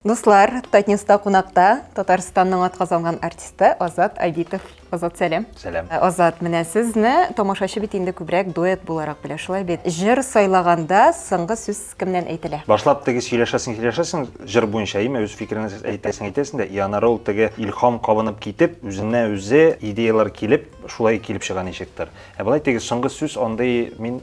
Дуслар, Татньюста кунакта Татарстанның атказанган артисты Азат Айдитов. Азат, сәлам. Сәлам. Азат, менә сезне тамашачы бит инде күбрәк дуэт буларак белә, шулай бит? Җыр сайлаганда соңгы сүз кемнән әйтелә? Башлап теге сөйләшәсең, сөйләшәсең җыр буенча, име, үз фикереңне әйтәсең, әйтәсең дә, и аннары ул теге илһам кабынып китеп, үзенә үзе идеяләр килеп, шулай килеп чыга ничектер. Ә болай теге соңгы сүз андый мин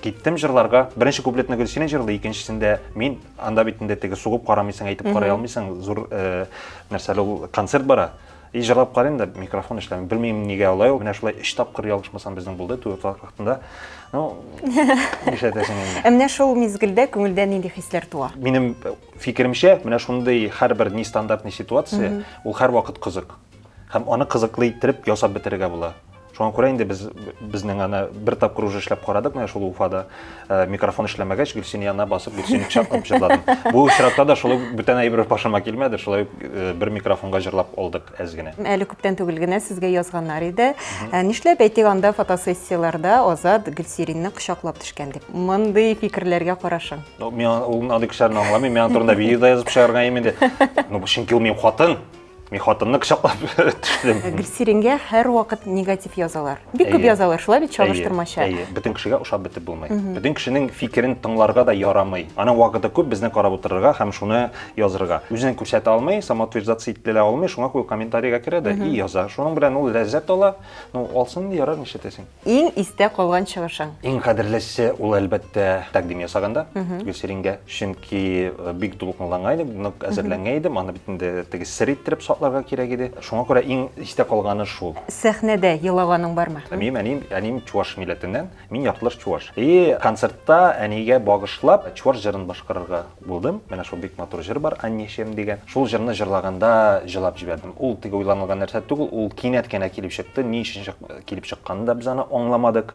киттем җырларга беренче куплетны гөлсинә җырлый икенчесендә мин анда бит инде теге сугып карамыйсың әйтеп карый алмыйсың зур э, нәрсә ул концерт бара и җырлап карыйм да микрофон эшләми белмим нигә алай ул менә шулай өч тапкыр ялгышмасам безнең булды дуэтлар хакында ну нишләтәсең инде ә менә шул мизгелдә күңелдә нинди хисләр туа минем фикеремчә менә шундый һәрбер нестандартный ситуация ул һәрвакыт кызык һәм аны кызыклы иттереп ясап бетерергә була шуңа күрә инде без безнең аны бер тапкыр уже эшләп карадык менә шул уфада э, микрофон эшләмәгәч гөлсин янына басып гөлсин чакырып җырладым бу очракта да шулай бүтән әйбер башыма килмәде шулай э, бер микрофонга җырлап алдык әз генә әле күптән түгел генә сезгә язганнар иде э, нишләп әйтик анда фотосессияләрдә азат гөлсиринне кочаклап төшкән дип мондый фикерләргә карашың мин ул андый кешеләрне аңламыйм миңа турында видео да язып чыгарган инде ну чөнки ул минем хатын Мин хатынны кочаклап төштем. Ә Гөлсирингә һәрвакыт негатив язалар. Бик күп Әйе. язалар, шулай бит чагыштырмача. Әйе, әйе. Бөтен кешегә ошап бетеп булмый. Бөтен кешенең фикерен тыңларга да ярамый. Аның вакыты күп безне карап утырырга һәм шуны язырга. Үзен күрсәтә алмый, самоутверждаться ителә алмый, шуңа күрә комментарийга керә дә и яза. Шуның белән ул ләззәт ала. Ну, алсын, ярар, нишләтәсең. Иң истә калган чыгышың? Иң кадерлесе ул, әлбәттә, тәкъдим ясаганда Гөлсирингә. Чөнки бик дулкынланган идем, нык әзерләнгән идем, аны бит инде теге сер иттереп сакларга кирәк иде. Шуңа күрә иң истә калганы шул. Сәхнәдә елаганың бармы? Минем әнием, әнием чуваш милләтеннән, мин яртылаш чуваш. И концертта әнигә багышлап чуваш җырын башкарырга булдым. Менә шул бик матур җыр бар, Аннешем дигән. Шул җырны җырлаганда җылап җибәрдем. Ул теге уйланылган нәрсә түгел, ул кинәт кенә килеп чыкты. Ни өчен чык, килеп чыкканын да без аны аңламадык.